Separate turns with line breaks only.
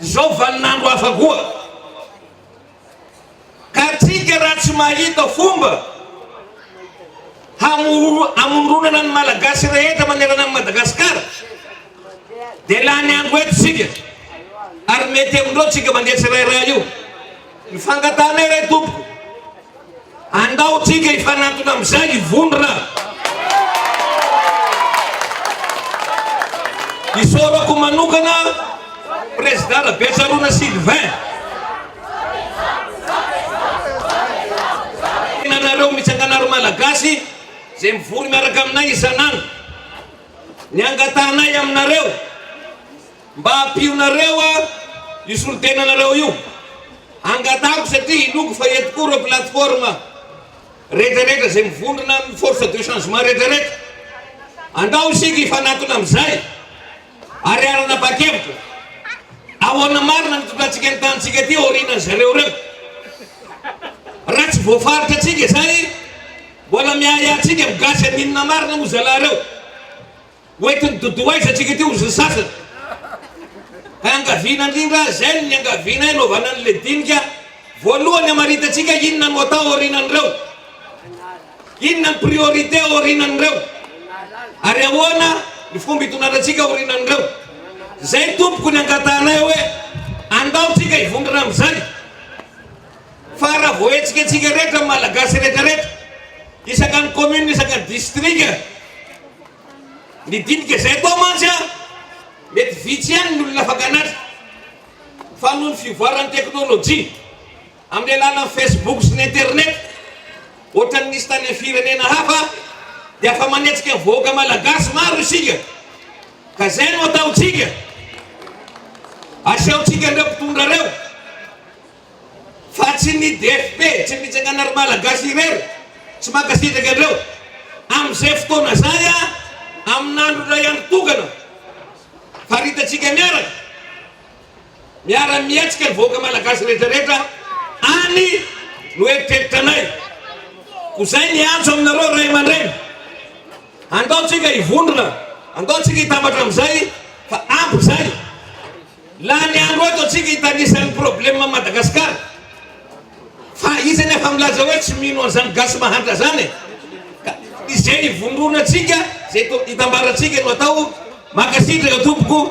Izao vaninandro hafa koa. Ka antsika raha tsy mahita fomba hamoronana ny Malagasy rehetra manerana an'i Madagasikara dia lany andro eto isika ary mety amin'ireo tsika mandeha tsirairay io. Ny fangatahana iray tompoko. Andao tsika hifanantona amizay i Vondrona. Isaorako manokana Prezida Rabetsarona Sylvain. Anareo mitsangana ry Malagasy zay mivory miaraka aminay isan'andro. Ny angatahanay aminareo. Mba ampionareo aho io solontenanareo io hangatahako satria inoako fa eto koa ireo plateforme retraretra izay mivondrona amin'ny force de changement retraretra. Andao isika hifanatona amin'izay ary aranabakevitra. Ahoana marina ny tondrantsika ny tanintsika aty aorianan'ny zareo ireo. Raha tsy voafaritra antsika izay mbola miahiahy antsika ny gasy amin'inona marina moa zalahy ireo. Hoentin'i Doudou aiza antsika ity ozy ny sasany? Iangaviana indrindra zen ny iangaviana hiarovana ny le dinika voalohany hamaritantsika inona no atao aorinan'ireo? Inona ny priorité aorinan'ireo? Ary ahoana ny fomba itonanantsika aorinan'ireo? Zay tompoko ny angatahanay hoe andao tsika hivondrona amin'izany. Fa raha voahetsika antsika rehetra ny Malagasy rehetra rehetra, isaka ny commune, isaka ny distrika, ny dinika izay atao mantsy an, mety vitsy ihany ny olona afaka hanatra. Fa noho ny fivoaran'ny teknolojia, amin'ny alalan'ny Facebook sy ny internet, ohatran'ny nisy tany amin'ny firenena hafa, dia afa-manetsika ny vahoaka Malagasy maro isika. Ka izay no ataontsika, asehotsika an'ireo mpitondra ireo. Fa tsy ny DFP, tsy ny fitsangana ry Malagasy irery, tsy mankasitraka anreo. Amin'izay fotoana izay a, amin'andro iray andro tokana, faritantsika miaraka, miara mihetsika ny vahoaka Malagasy retraretra any no eritreritra anay. Ko zay ny antso aminareo ray aman-dreny. Andao tsika hivondrona, andao tsika hitambatra amin'izay fa ampy izay. Lany andro ato tsika hitanisa ny probleme Madagascar fa iza ny afa milaza hoe tsy mino anzany gasy mahantra zany e? ka izay ivondrona tsika zay itambara tsika no atao, mankasitraka tompoko.